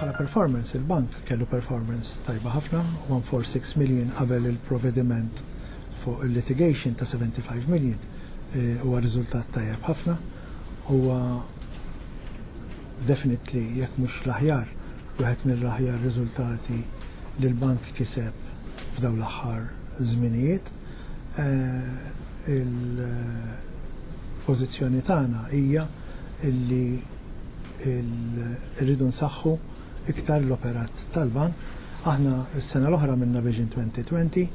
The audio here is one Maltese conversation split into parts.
Bħala performance, il-bank kellu performance tajba ħafna, 146 million qabel il-provvediment fuq il-litigation ta' 75 million huwa riżultat tajjeb ħafna. Huwa definitely jekk mhux l-aħjar wieħed mill-aħjar riżultati li l-bank kiseb f'dawn l-aħħar żminijiet. Il-pożizzjoni tagħna hija li rridu nsaħħu iktar l-operat tal-Bank. Aħna s-sena l-oħra għamilna Vision 2020.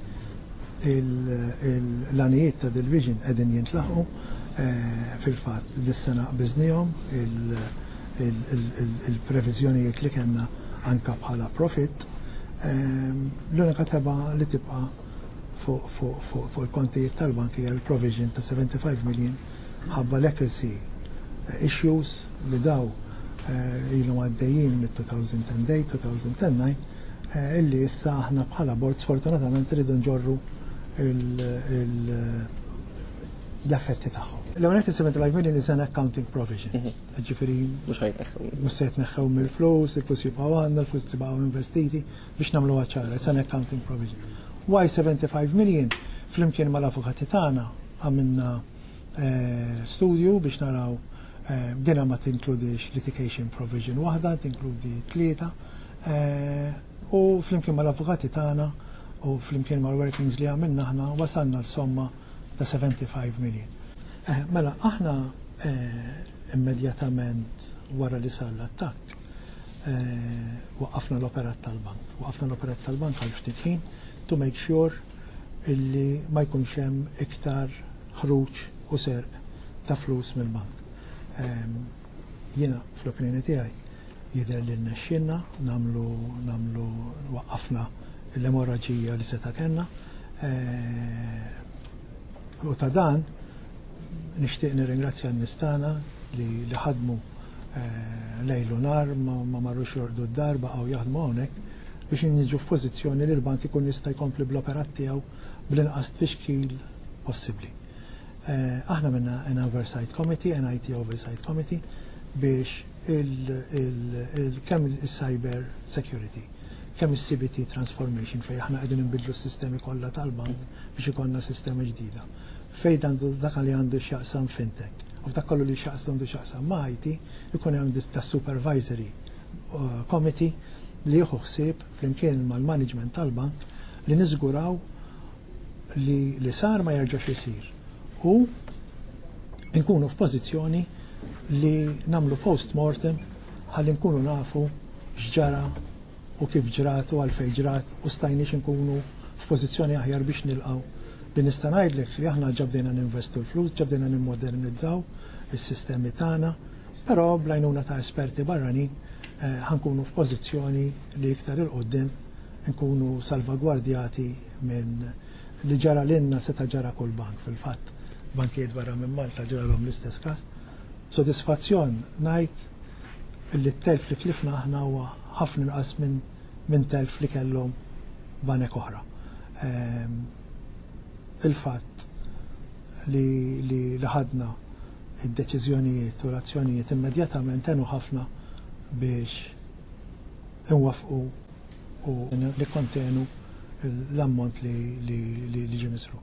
L-għanijiet ta' dil-Vision qegħdin jintlaħqu. Fil-fatt dis-sena qbiżnihom il-previżjonijiet li kellna anke bħala profitt. L-unika tebgħa li tibqa' fuq il-kontijiet tal-Bank hija l-provision ta' 75 million Mħabba leprosy issues li daw ilhom għaddejjin mit-2008, 2009, illi issa aħna bħala bord sfortunatament irridu nġorru l-effetti tagħhom. L-ewwel qed is-75 million is an accounting provision. Mhm. Ġifieri mhux ħajtneħħew. Mhux se jitneħħew mill-flus, il-flus jibqgħu għandna, il-flus tibqgħu investiti biex nagħmluha ċara, it's an accounting provision. Why 75 million flimkien mal-avukati tagħna Għamilna studju biex naraw, dinha ma tinkludix litigation provision waħda, tinkludi tlieta, u flimkien mal-avukati tagħna u flimkien mal-workings li għamilna aħna wasalna għal somma ta' 75 million. Mela, aħna immedjatament wara li sar l-attakk waqqafna l-operat tal-bank. Waqqafna l-operat tal-bank għal ftit ħin to make sure illi ma jkunx hemm iktar ħruġ u serq ta' flus mill-bank. Jiena fl-opinjoni tiegħi jidher li rnexxielna nagħmlu nagħmlu waqqafna l-emorraġija li seta' kellna u ta' dan Nixtieq nirringrazzja n-nistana li li ħadmu eh, lejlu nar ma marrux jordu d-dar baqgħu jaħdmu hawnhekk biex inniġu f'pożizzjoni li l-bank ikun jista' jkompli bl-operat tiegħu bl-inqas tfixkil possibbli. Eh, aħna minna an oversight committee, an IT oversight committee, biex kemm il-cyber security, kemm il-CBT transformation fej aħna qegħdin nbidlu s-sistemi kollha tal-bank biex ikonna sistema ġdida. Fejn għandu dak li għandu x'jaqsam fintech u f'dak kollu li x'jaqs għandu x'jaqsam ma' IT ikun hemm tas-supervisory committee li jieħu ħsieb flimkien mal-management tal-bank li niżguraw li li sar ma jerġax isir u nkunu f'pożizzjoni li nagħmlu post mortem ħalli nkunu nafu x'ġara u kif ġrat u għalfejn ġrat u stajniex inkunu f'pożizzjoni aħjar biex nilqgħu. Li nista' ngħidlek li aħna ġa bdejna ninvestu l-flus, ġa bdejna nimmodernizzaw is-sistemi tagħna, però bl-għajnuna ta' esperti barranin ħa nkunu f'pożizzjoni li iktar 'il quddiem inkunu salvagwardjati minn li ġara lilna seta' ġara kull bank fil-fatt. Bankijiet barra minn Malta ġralhom l-istess każ. B'sodisfazzjon ngħid li t-telf li tlifna aħna huwa ħafna inqas minn telf li kellhom banek oħra. Il-fatt li ħadna d-deċiżjonijiet u l-azzjonijiet immedjatament għenu ħafna biex inwaffqu u nikkontenu l-ammont li ġie misruf.